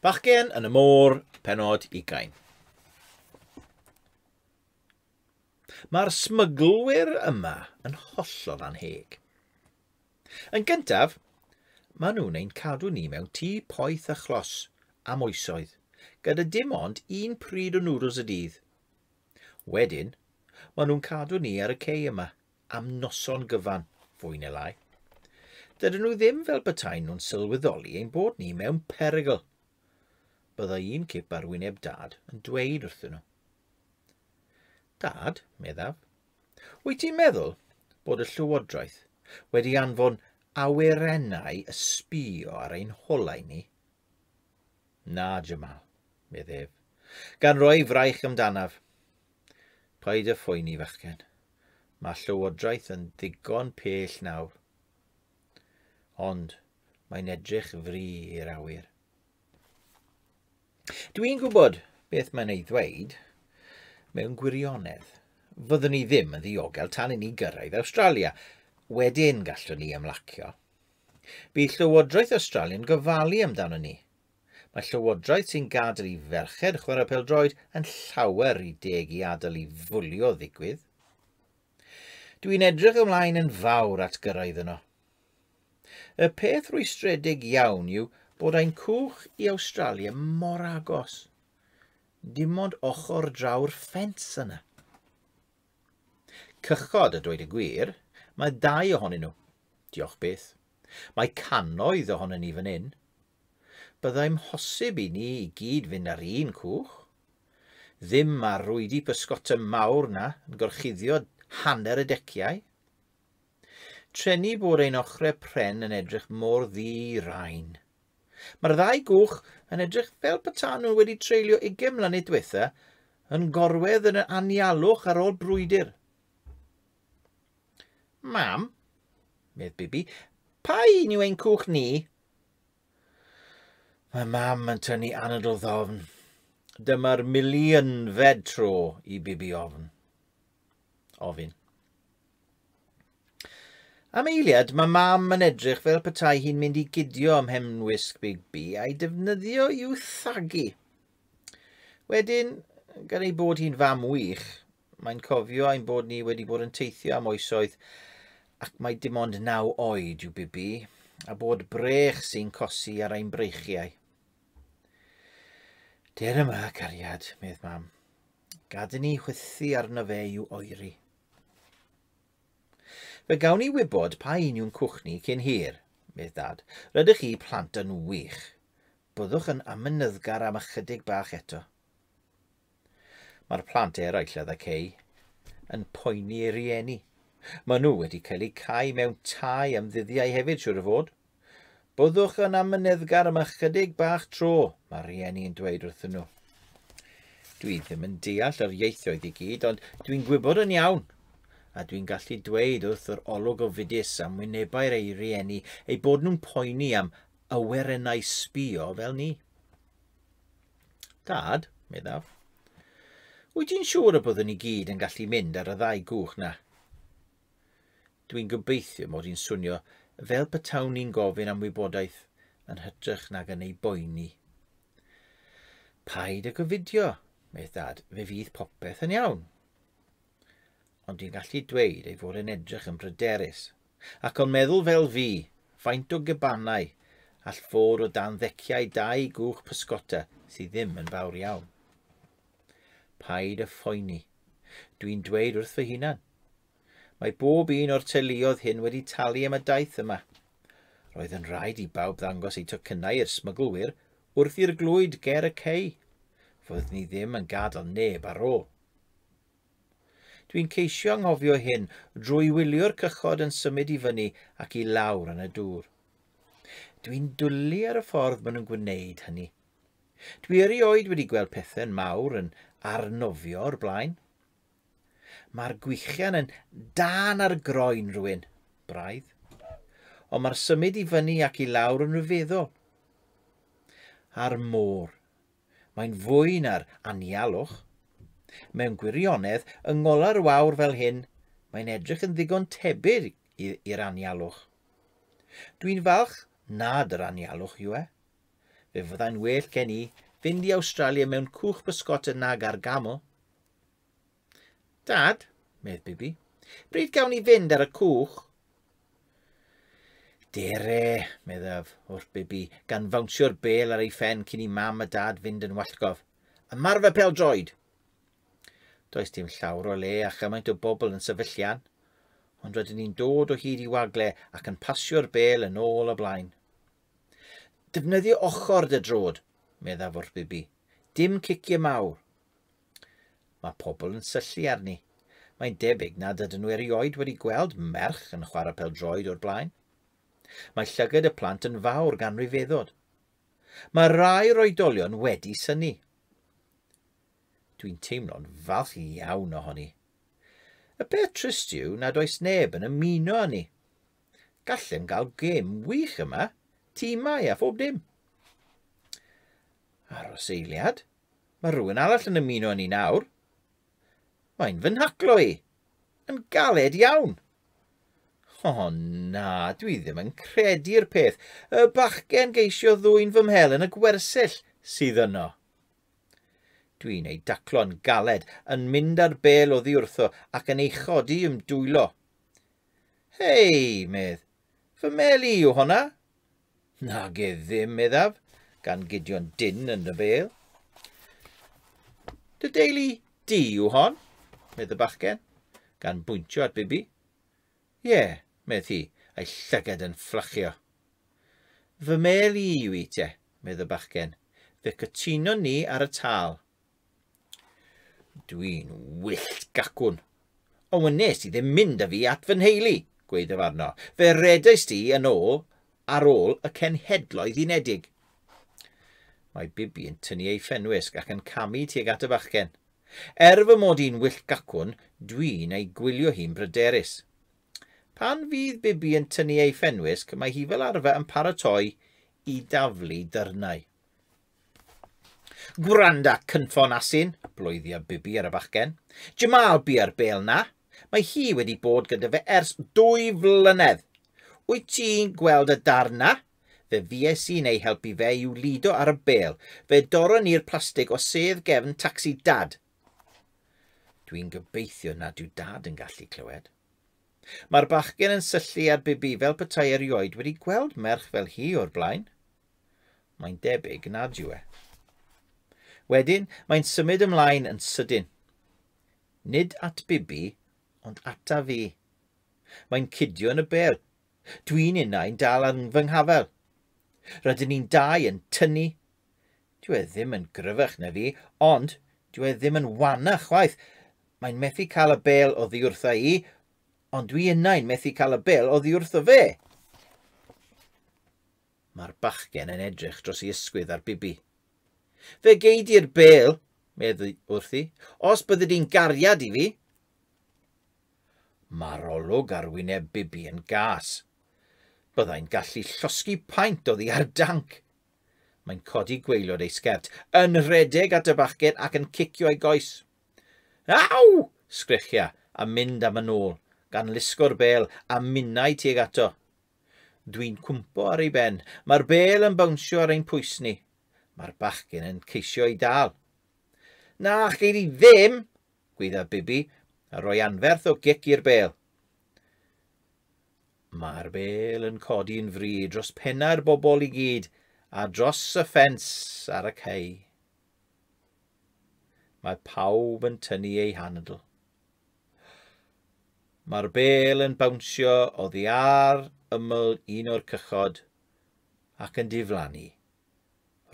Bachgen yn y môr, penod ugain. Mae'r smyglwyr yma yn hollol anheg. Yn gyntaf, maen nhw'n ein cadw ni mewn tŷ poeth a chlos am oesoedd, gyda dim ond un pryd o nwdls y dydd. Wedyn, maen nhw'n cadw ni ar y cei yma am noson gyfan, fwy neu lai. Dydyn nhw ddim fel betaen nhw'n sylweddoli ein bod ni mewn perygl. Bydda un cip ar wyneb dad yn dweud wrthyn nhw. Dad, meddaf, wyt ti'n meddwl bod y llywodraeth wedi anfon awyrennau y sbio ar ein holau ni Na, Jamal, medd ef, gan roi fraich amdanaf. Paid â phoeni, fachgen. Mae llywodraeth yn ddigon pell nawr. Ond mae'n edrych fri i'r awyr. Dwi'n gwybod beth mae'n ei ddweud mewn gwirionedd. Fyddwn ni ddim yn ddiogel tan i ni gyrraedd Awstralia. Wedyn gallwn ni ymlacio. Bydd Llywodraeth Awstralia'n gofalu amdano ni. Mae Llywodraeth sy'n gadael i ferched chwarae peldroed yn llawer rhy deg i adael i fwlio ddigwydd. Dw i'n edrych ymlaen yn fawr at gyrraedd yno. Y peth rwystredig iawn yw bod ein cwch i Awstralia mor agos. Dim ond ochr draw'r ffens yna. Cychod, a dweud y gwir, mae dau ohonyn nhw. Diolch byth. Mae cannoedd ohonyn ni fan hyn. Byddai'm hosib i ni i gyd fynd ar un cwch. Ddim ma'r rwydi pysgota mawr 'na yn gorchuddio hanner y deciau. Treni bod ein ochre pren yn edrych mor ddi-rain. Mae'r ddau gwch yn edrych fel petan nhw wedi treulio ugain mlynedd diwetha yn gorwedd yn yr anialwch ar ôl brwydr. Mam, medd Bibi, pa un yw ein cwch ni? Mae mam yn tynnu anadl ddofn. Dyma'r miliynfed tro i Bibi ofn. Ofyn. Am eiliad, mae mam yn edrych fel petai hi'n mynd i gidio ym mhenwisg Bigby a'i defnyddio i'w thagu. Wedyn, gan ei bod hi'n fam wych, mae'n cofio ein bod ni wedi bod yn teithio am oesoedd ac mae dim ond naw oed yw Bibi, a bod brech sy'n cosi ar ein breichiau. Der yma, cariad, medd mam. Gad i ni chwythu arno fe i'w oeri. Fe gawn ni wybod pa un yw'n cwch ni cyn hir, medd Dad. Rydych chi plant yn wych. Byddwch yn amynyddgar am ychydig bach eto. Mae'r plant eraill a ddaceu yn poeni ei rieni. Maen nhw wedi cael eu cau mewn tai am ddyddiau hefyd, siwr o fod. Byddwch yn amyneddgar am ychydig bach tro, mae rhieni yn dweud wrthyn nhw. Dwi ddim yn deall yr ieithoedd i gyd, ond dwi'n gwybod yn iawn a dwi'n gallu dweud wrth yr olwg ofidus am wynebau'r ei rieni eu bod nhw'n poeni am awerennau sbio fel ni. Dad, meddaf, wyt ti'n siŵr y byddwn ni gyd yn gallu mynd ar y ddau gwch na? Dwi'n gobeithio mod i'n swnio fel petawn i'n gofyn am wybodaeth yn hytrach nag yn ei boeni. Paid ag ofidio, medd dad, fe fydd popeth yn iawn. Ond dwi'n gallu dweud ei fod yn edrych yn bryderus, ac o'n meddwl fel fi, faint o gebanau all fod o dan ddeciau dau gwch pysgota sydd ddim yn fawr iawn. Paid a phoeni. Dwi'n dweud wrth fy hunan, Mae bob un o'r teuluodd hyn wedi talu am y daith yma. Roedd yn rhaid i bawb ddangos eu tocynnau i'r smyglwyr wrth i'r glwyd ger y cei. Fydd ni ddim yn gadael neb ar ôl. Dwi'n ceisio anghofio hyn drwy wylio'r cychod yn symud i fyny ac i lawr yn y dŵr. Dwi'n dwlu ar y ffordd maen nhw'n gwneud hynny. Dwi erioed wedi gweld pethau'n mawr yn arnofio o'r blaen. Mae'r gwichian yn dân ar groen rhywun, braidd. Ond mae'r symud i fyny ac i lawr yn rhyfeddol. A'r môr. Mae'n fwy na'r anialwch. Mewn gwirionedd, yng ngolar o awr fel hyn, mae'n edrych yn ddigon tebyg i'r anialwch. Dwi'n falch nad yr anialwch yw e. Fe fyddai'n well gen i fynd i Awstralia mewn cwch bysgota nag ar gaml, Dad, medd Bibi, bryd gawn ni fynd ar y cwch? Dere, meddaf, wrth Bibi, gan fawnsio'r bel ar ei phen cyn i mam a dad fynd yn wallgof. Ymarfer pel droed! Does dim llawr o le a chymaint o bobl yn sefyllian, ond rydyn ni'n dod o hyd i wagle ac yn pasio'r bel yn ôl a blaen. Defnyddio ochr dy drod, meddaf wrth Bibi. Dim cicio mawr. Mae pobl yn syllu arni. Mae'n debyg nad ydyn nhw erioed wedi gweld merch yn chwarae pel-droed o'r blaen. Mae llygad y plant yn fawr gan ryfeddod. Mae rai o'r oedolion wedi syni. Dwi'n teimlo'n falch iawn ohoni. Y peth trist yw nad oes neb yn ymuno â ni. Gallem gael gêm wych yma, timau a phob dim. Aros eiliad, Mae rhywun arall yn ymuno â ni nawr. Mae'n fy nhaclo i. Yn galed iawn. O oh, na, dwi ddim yn credu'r peth. Y bachgen geisio ddwy'n fy mhel yn y gwersyll sydd yno. Dwi'n ei daclo'n galed, yn mynd ar bel oddi wrtho ac yn ei chodi i'm dwylo. Hei, medd, Fy mel i yw honna? Nage ddim, meddaf, gan Gideon Dyn yn y bel. Dy deulu di yw hon? medd y bachgen, gan bwyntio at Bibi. Ie, yeah, medd hi, a'i llygad yn fflachio. Fy mel i yw i te, medd y bachgen. Fe cytunon ni ar y tal. Dwi'n wyllt gacwn. Ond wnes i ddim mynd â fi at fy nheulu, gweithaf arno. Fe redais ti yn ôl ar ôl y Cenhedloedd Unedig. Mae Bibi yn tynnu ei phenwisg ac yn camu tuag at y fachgen. Er fy mod i'n wyllt gacwn, dwi'n ei gwylio hi'n bryderus. Pan fydd Bibi yn tynnu ei phenwisg, mae hi fel arfer yn paratoi i daflu dyrnau. Gwranda cynffon asyn, bloeddia Bibi ar y fachgen. Jamal bia'r bêl na. Mae hi wedi bod gyda fe ers dwy flynedd. Wyt ti'n gweld y darn na? Fe fues i'n ei helpu fe i'w lido ar y bêl. Fe dorron ni'r plastig o sedd gefn tacsi Dad. Dwi'n gobeithio nad yw Dad yn gallu clywed. Mae'r bachgen yn syllu ar Bibi fel petai erioed wedi gweld merch fel hi o'r blaen. Mae'n debyg nad yw e. Wedyn, mae'n symud ymlaen yn sydyn. Nid at Bibi, ond ata fi. Mae'n cydio yn y bel. Dwi'n unau'n dal ar fy nghafel. Rydyn ni'n dau yn tynnu. Dwi e ddim yn gryfach na fi, ond dwi e ddim yn wana chwaith. Mae'n methu cael y bel o ddiwrtha i, ond dwi unau'n methu cael y bel o ddiwrtho fe. Mae'r bachgen yn edrych dros ei ysgwydd ar Bibi. Fe gei di'r bel, meddwi wrthi, os byddi di'n gariad i fi. Mae'r olwg ar wyneb Bibi yn gas. Byddai'n gallu llosgi paent o ddi ar danc. Mae'n codi gweilod ei sgert, yn rhedeg at y bachgen ac yn cicio ei goes. Aw! sgrechiau a mynd am yn ôl, gan lusgo'r bel a minnau tuag ato. Dwi'n cwmpo ar ei ben. Mae'r bel yn bawnsio ar ein pwys ni. Mae'r bachgen yn ceisio ei dal. Na, gei di ddim! gwydda Bibi, a rhoi anferth o gic i'r bel. Mae'r bel yn codi'n fri dros pennau'r bobl i gyd a dros y ffens ar y cei. Mae pawb yn tynnu eu handl. Mae'r bêl yn bawnsio oddi ar ymyl un o'r cychod ac yn diflannu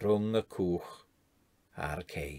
rhwng y cwch a'r cei.